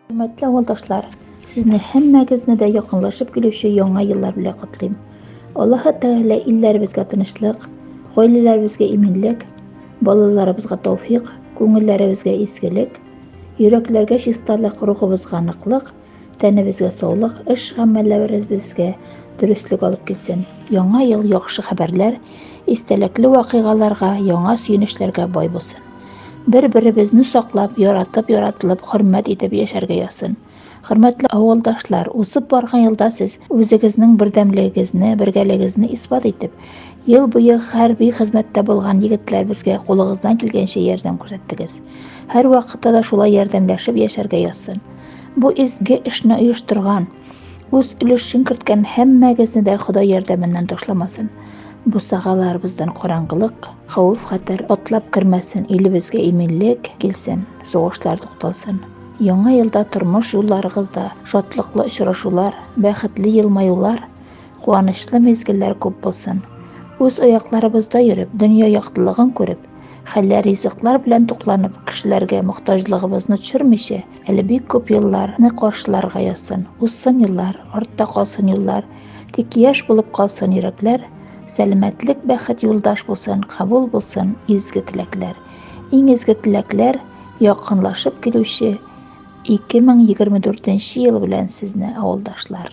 Хөрмәтле авылдашлар, сезне һәммәгезне дә якынлашып килүче яңа еллар белән котлыйм. Аллаһы Тәгалә илләребезгә тынычлык, гаиләләребезгә иминлек, балаларыбызга тауфик, күңелләребезгә изгелек, йөрәкләргә чисталык, рухыбызга ныклык, Тәнебезгә саулык, эш гамәлләврез безгә дөреслек алып килсен. Яңа ел яхшы хәбәрләр, истәлекле вакыйгаларга, яңа сөенечләргә бай булсын. Бер-беребезне саклап, яратып, яратылып, хөрмәт итеп яшәргә язсын. Хөрмәтле авылдашлар, узып барган елда сез үзегезнең бердәмлегегезне, бергәлегегезне исбат итеп, ел буе хәрби хезмәттә булган егетләребезгә кулыгыздан килгәнчә ярдәм күрсәттегез. Һәрвакытта да шулай ярдәмләшеп яшәргә язсын. Бу изге эшне оештырган, үз өлешен керткән һәммәгезне дә Ходай ярдәменнән ташламасын. Бусагаларыбыздан караңгылык, хәвеф-хәтәр атлап кермәсен, илебезгә иминлек килсен, сугышлар тукталсын. Яңа елда тормыш юлларыгызда шатлыклы очрашулар, бәхетле елмаюлар, Куанычлы мизгелләр күп булсын. Үз аякларыбызда йөреп, дөнья яктылыгын күреп, хәлләр ризыклар белән тукланып, кешеләргә мохтаҗлыгыбызны төшермичә, әле бик күп еллар ны каршыларга язсын. Узсын еллар, артта калсын юллар, тик яшь булып калсын йөрәкләр, сәламәтлек, бәхет юлдаш булсын, кабул булсын изге теләкләр. Иң изге теләкләр, якынлашып килүче 2024 ел белән сезне, авылдашлар!